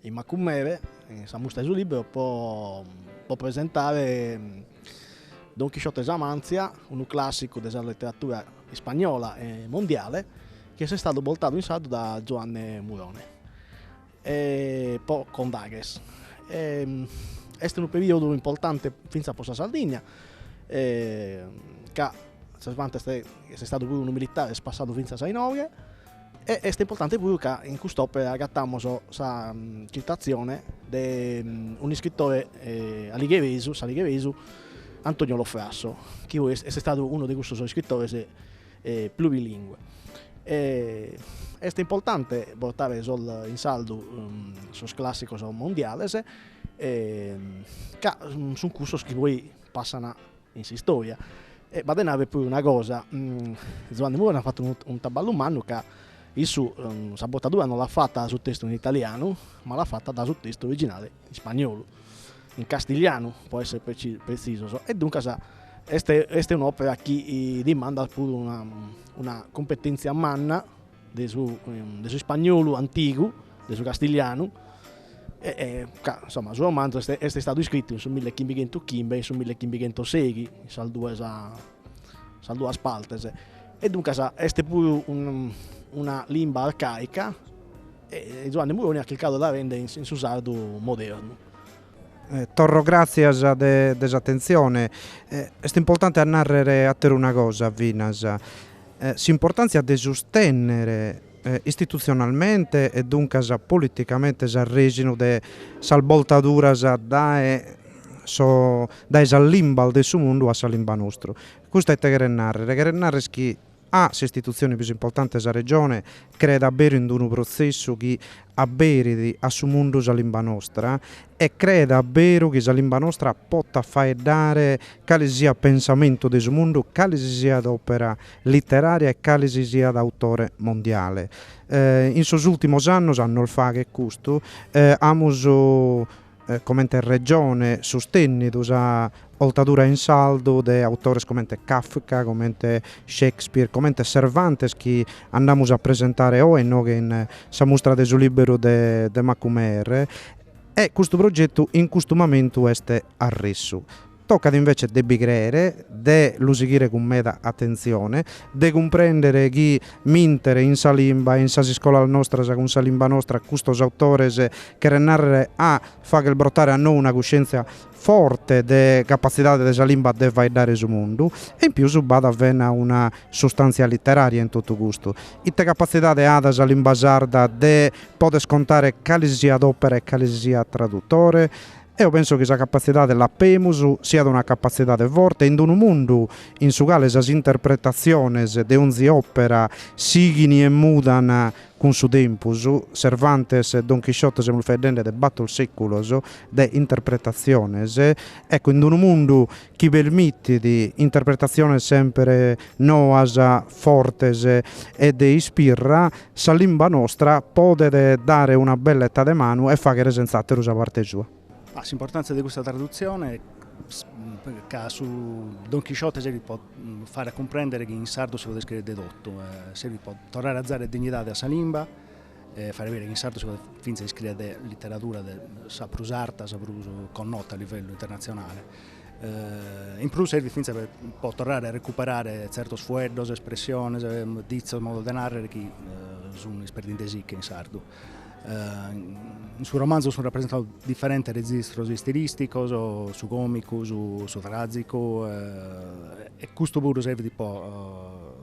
in Macumere, in sa mustra de su liberu po presentare Don Chisciote 'e sa Mantzia, unu classicu de sa letteratura ispagnola e mondiale chi est istadu bortadu in sardu da Giuanne Murone e po Condaghes. Est unu periodu importante finzas po sa Sardigna ca Cervantes est istadu puru unu militare, est passadu finzas a inoghe E est importante puru ca in cust'òpera agatamus sa citazione de un'iscritore aligheresu, s'aligheresu Antonio Lo Frasso, chi puru est istadu unu de cussos iscritores plurilingue. Est importante portare sos in sardu sos classicos mondiales ca sun cussos chi poi passana in s'istoria e b'at de narrer puru una cosa, Zuanni Murone at fattu unu unu traballu mannu ca issu sa bortadura no l'at fatta da su testu in italianu ma l'at fatta da su testu originale in spagnolu, in castiglianu po esser preci- pretzisos e duncas est est un'opera chi dimandat puru una una cumpetenzia manna de su de su ispagnolu antigu, de su castiglianu, ca insomma su romanzu est est istadu iscritu in su mille chimbighentu chimbe e in su mille chimbighentu seghi, in sas duas in sas duas partes, e duncas est puru unu una limba arcaica e Zuanne Murone at chircadu de la render in su sardu modernu Torro gràtzias de s'atentzione. Est importante a nàrrere àtera una cosa finas, s'importàntzia de sustènnere istitutzionalmente e duncas politicamente s'arrèxinu de sas boltaduras dae dae sas limbas de su mundu a sa limba nostru. Custu a ite cheret nàrrere? Cheret nàrrere chi A s'istitutzione prus importante de sa Regione creet a beru in d-unu protzessu chi aberit a su mundu sa limba nostra e creet a beru chi sa limba nostra potat faeddare cale si siat pensamentu de su mundu, cale si siat òpera literària e cale si siat autore mondiale. In sos ùrtimos annos a nos faghet custu amus comente regione sustènnidu sa oltadura in sardu de autores comente Kafka, comente Shakespeare, comente Cervantes chi andamus a presentare oe inoghe in sa mustra de su lìberu de de Macumere e custu progetu in custu momentu est arressu. Tocat invece de bi creere, de lu sighire cun meda atentzione, de cumprèndere chi mìntere in sa limba e in sas iscolas nostras cun sa limba nostra custos autores cheret nàrrere a fagher brotare a nou una cuscièntzia forte de capatzidade de sa limba de faeddare su mundu. E in pius b'at fena una sustàntzia literària in totu custu. Ite capatzidade at sa limba sarda de poder contare cale si siat òpera e cale si siat tradutore? Eo penso chi sa capatzidade l'apemus, siat una capatzidade forte in unu mundu in su cale sas interpretatziones de onzi òpera sighin e mudan cun su tempus, Cervantes e Don Chisciote semus faeddende de bator sèculos de interpretatziones, ecco, in unu mundu chi permitit interpretatziones sempre noas, fortes e de ispirra, sa limba nostra podet dare una belleta de manu e fàghere sentz'àteru sa parte sua. S'importàntzia de custa tradutzione, ca su Don Chisciote serbit pro fàghere a cumprèndere chi in sardu si podet iscrìere de totu, serbit pro torrare a zare dignidade a sa limba, e fàghere bìdere chi in sardu si podet fintzas iscrìere de literadura de sa prus arta, sa prus connota a livellu internatzionale. In prus serbit fintzas pro torrare a recuperare tzertos fueddos, espressiones, ditzos, modos de nàrrere chi sun isperdinde·si·che in sardu. In su romanzu sun rapresentados diferentes rezistros istilìsticos, su còmicu, su tràzicu e custu puru serbit pro